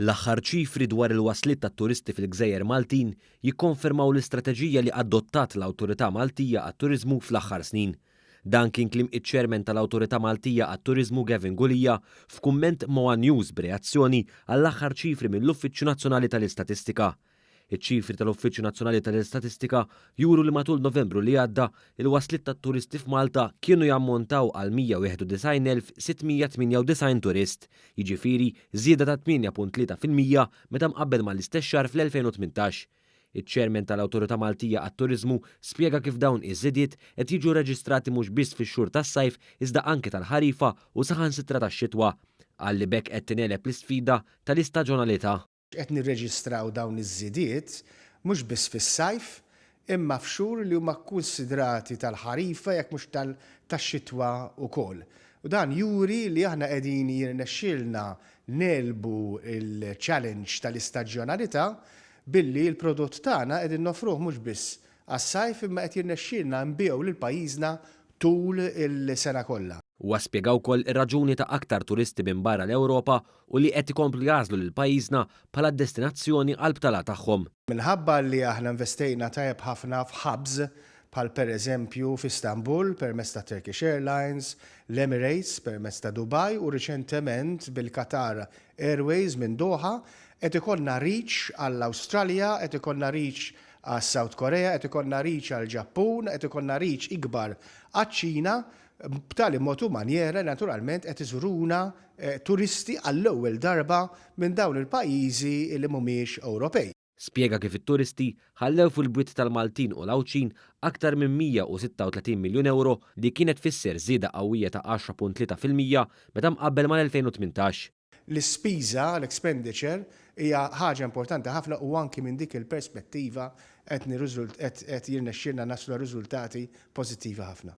L-aħħar ċifri dwar il-wasliet tat-turisti fil-gżejjer Maltin jikkonfermaw l-istrateġija li adottat l-Awtorità Maltija għat-Turiżmu fl-aħħar snin. Dan kien kliem iċ-Chairman tal-Awtorità Maltija għat-Turiżmu Gavin Gulia f'kumment ma' one News b'reazzjoni għall-aħħar ċifri mill-Uffiċċju Nazzjonali tal-Istatistika. Iċ-ċifri tal-Uffiċċju Nazzjonali tal-Istatistika juru li matul Novembru li għadda, il-wasliet tat-turisti f'Malta kienu jammontaw għal 191,698 turist, jiġifieri żieda ta' 8.3 fil-mija meta mqabbel mal-istess xahar fl-2018. Iċ-Chairman tal-Awtorità Maltija għat-Turiżmu spjega kif dawn iż-żidiet qed jiġu rreġistrati mhux biss fix-xhur tas-sajf iżda anke tal-ħarifa u saħansitra tax-xitwa. Qal li b'hekk qed tingħeleb l-isfida tal-istaġonalità. Qed nirreġistraw dawn iż-żidiet mhux biss fis-sajf imma f'xhur li huma kkunsidrati tal-ħarifa jekk mhux tax-xitwa wkoll. U dan juri li aħna qegħdin jirnexxielna negħlbu l-challenge tal-istaġjonalità billi l-prodott tagħna qegħdin noffruh mhux biss għas-sajf imma qed jirnexxielna nbigħu lil pajjiżna tul is-sena kollha. Huwa spjega wkoll ir-raġuni ta' aktar turisti minn barra l-Ewropa u li qed ikomplu jagħżlu lil pajjiżna bħala d-destinazzjoni għall-btala tagħhom. Minħabba li aħna investejna tajjeb ħafna f'hubs bħal pereżempju f'Istanbul permezz ta' Turkish Airlines, l-Emirates permezz ta' Dubai u riċentement bil-Qatar Airways minn Doha, qed ikollna reach għall-Awstralja, qed ikollna reach għas-South Korea, qed ikollna reach għall-Ġappun, qed ikollna reach ikbar għaċ-Ċina, b'tali mod u manjera li naturalment qed iżuruna turisti għall-ewwel darba minn dawn il-pajjiżi li mhumiex Ewropej. Spjega kif it-turisti ħallew fil-bwiet tal-Maltin u l-Għawdxin aktar minn 136 miljun ewro li kienet tfisser żieda qawwija ta' 10.3 fil-mija meta mqabbel mal-2018. L-ispiża, l-expenditure, hija ħaġa importanti ħafna u anki minn dik il-perspettiva qed jirnexxielna naslu għal riżultati pożittivi ħafna.